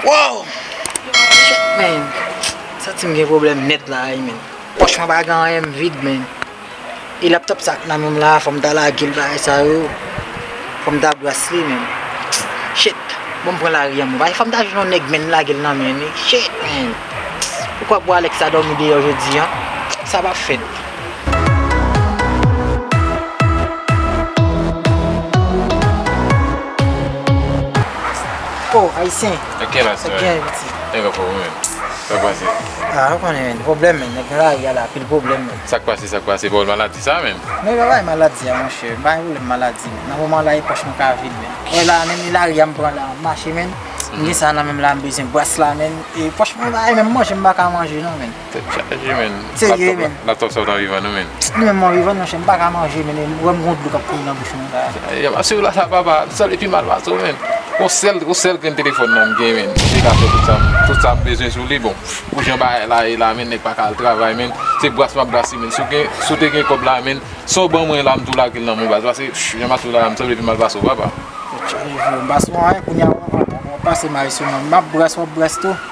Waww Chèt men Santim gen pwoblèm nèt la a ui men. Poch mwen pa gen anyen m vid menn. E laptop sa k nan menm la fòm ta lagel bagay sa yo. Fòm ta bras li menn. Shit. Bon m pran lari an mwen. Fòm ta jwenn yon nèg menn lagel nan menm li. Shit menn. Poukwa bwa Alex la dòmi deyò jodi an. Sa pa fèt. Oh ayisyen. Sa gen ayiti. Nèg an fòm wi menn. Sak pase. Ah ou konnen men pwoblèm men nèg nan lari a la anpil pwoblèm men. Sak pase sak pase bòl maladi sa menm. Men pa bay maladi a monchè pa bay pwoblèm maladi nan moman la e pòch mwen ka vid menn. Wè la menn e lari a m pran la m mache menn m gen sa nan menm la m bezwen bwàs la menn e pòch mwen pa e menm manje m paka manje non menn. Tèt chaje menn. Serye menn. Laptop sa ou ta vivan nou menn. Li menm mwen vivan monchè m paka manje menn e wè m gon dlo kap kouri nan bouch mwen. Masè w la sa papa sa li pi mal pase w menm yon sèl yon sèl grenn telefòn nan m gen menm li ka fè tout sa m tout sa m bezwen sou li bon pou jan bagay la ye la menm nèg pa ka al travay menm se bras m ap brase menm si w gen si w te gen kòb la menm sa w ban mwen la m tou lage l nan men w baz pase jan masè w la m sanble li pi mal pase w papa. Masè w la kounye a w ap pase may sou mwen m ap brase w ap brase tou.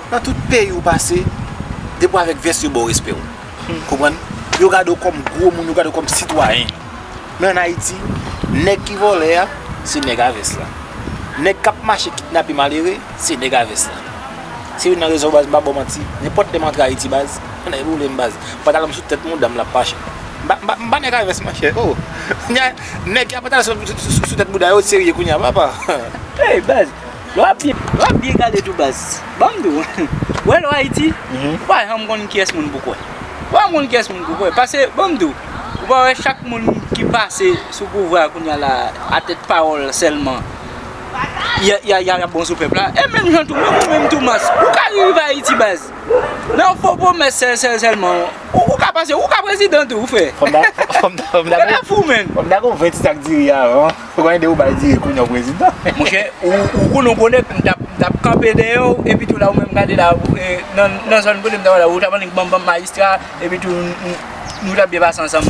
Nan tout peyi ou pase, depi w avèk vès yo ba w respè w. Ou konprann? Yo gade w kòm gwo moun, yo gade w kòm sitwayen. Men an Ayiti, nèg ki vòlè a, se nèg a vès la. Nèg k ap mache kidnape malere, se nèg a vès la. Se youn nan rezon baz m pa ba w manti, nenpòt lè m antre Ayiti baz, m nan evoule m baz. Pantalon m sou tèt mouda m l ap mache. M pa m pa nèg a vès monchè oo. Nèg ki gen pantalon sou tèt mouda yo serye kounya papa. Hey baz! Wap byen gade tou baz. Banm diw. Ou wè lè w Ayiti, ou pa janm konn kiyès moun pou kwè. Ou pa janm konn kiyès moun pou kwè. Pase banm diw, ou pa wè chak moun ki pase sou pouvwa a kounya la a tèt pawòl sèlman y ap bon sou pèp la. E menm jan tou, menm ou menm tou Mars, ou ka rive Ayiti baz. Nan yon fo pwomès sèl sèl sèlman, ou ka pase, ou ka prezidan tou frè. Fòm ta gen yon 20 ti sak diri avan. Ou konnen depi ou bay diri kounya ou prezidan. Monchè ou konnen ou konnen m tap kanpe dèyè w epitou la ou menm gade la nan zòn kote m tap la ou tap annik banm banm majistra epitou nou tap byen pase ansanm.